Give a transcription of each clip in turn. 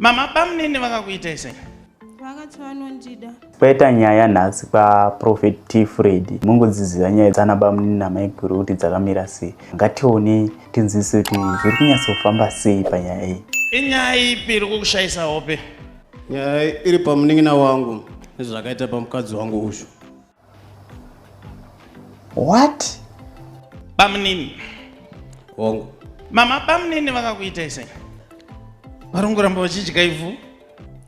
Mama bamnini vakakuitai sei? Vakati vanondida. Kwaita nyaya nhasi kwa Prophet T Freddy. Mungodziziva nyaya dzana bamnini namaiguru kuti dzakamira sei. Ngatione tinzwise kuti zviri kunyatsofamba sei panyaya iyi. Inyaya ipi iri kukushaisa hope? Nyaya iri pamunin'ina wangu nezvakaita pamukadzi wangu uyu. what bamunini hongu mama bamunini vakakuitai sei vari kungoramba vachidya ivhu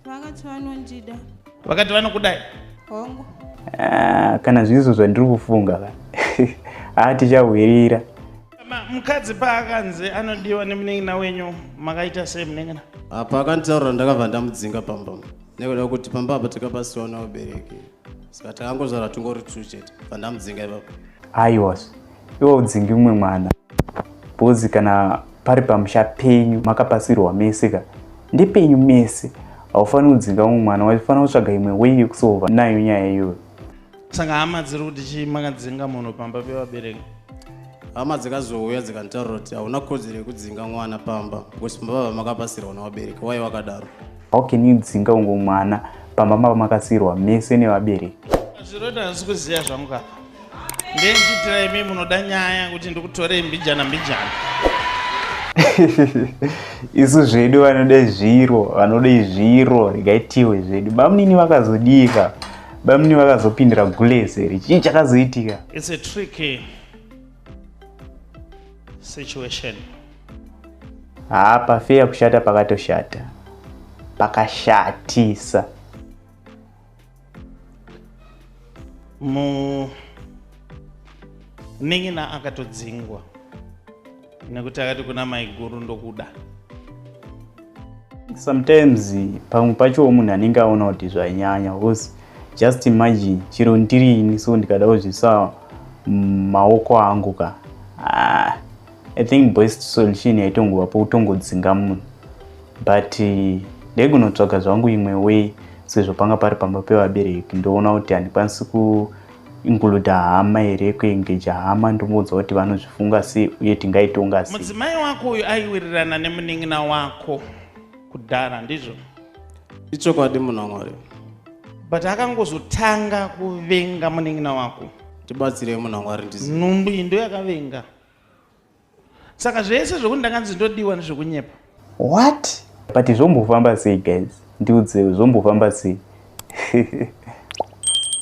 vakati vanondida vakati vanokudai hongu ah, kana zvizo zvandiri kufunga ka haa ah, tichahwirira mukadzi paakanzi anodiwa nemunengina wenyu makaita sei munengina apa akanditaurira ndakabva ndamudzinga pamba nekuda kuti pamba apa takapasiwa naobereki Saka takangozvara tungori two chete pandamudzinga ipapo. Aiwas. Iwo udzingi umwe mwana. Bozi kana pari pamusha penyu makapasirwa mese ka. Ndepenyu mese. Haufaniri kudzinga umwe mwana waifanira kutsvaga imwe way yekusolva nayo nyaya iyoyo. Saka hama dziri kuti chii makadzinga munhu pamba pevabereki? hama dzikazouya dzikanditaurira kuti hauna kodzero yekudzinga mwana pamba because mbavha makapasirwa nevabereki wai wakadaro How can you dzinga ungo mwana pamba mava makasirwa mese nevabereki? Zviroda hazvisi kuziva zvangu apa. Ndendichitira imi munoda nyaya kuti ndikutorei mbijana mbijana. Isu zvedu vanoda zviro, vanoda zviro, regaitiwe zvedu. Bamunini vakazodika. Bamunini vakazopindira gulese. Chii chakazoitika? It's a trick. Eh? situation haa pafeya kushata pakatoshata pakashatisa mu nin'ina akatodzingwa nekuti akati kuna maiguru ndokuda sometimes pamwe pacho munhu anenge aona kuti zvainyanya because just imagine chero ndiri ini so ndikada kuzvisa maoko angu ka ah, i think best solution yaitongova pokutongodzinga munhu but eh, ndaigunotsvaga zvangu imwe way sezvo panga pari pamba pevabereki ndoona kuti handikwanisi ku Inkluda hama here kuengeja hama ndomuudza kuti vanozvifunga sei uye tingaitonga sei. Mudzimai wako uyu aiwirirana nemunin'ina wako kudhara ndizvo? Ichokwadi munhongori. But akangozotanga kuvenga munin'ina wako. Tibatsirei munhongori ndizi. Nhumbu iyi ndoyakavenga. Saka zvese zvekuti ndakanzi ndodiwa nezvekunyepa. What? But zvombofamba sei guys? Ndiudzei zvombofamba sei?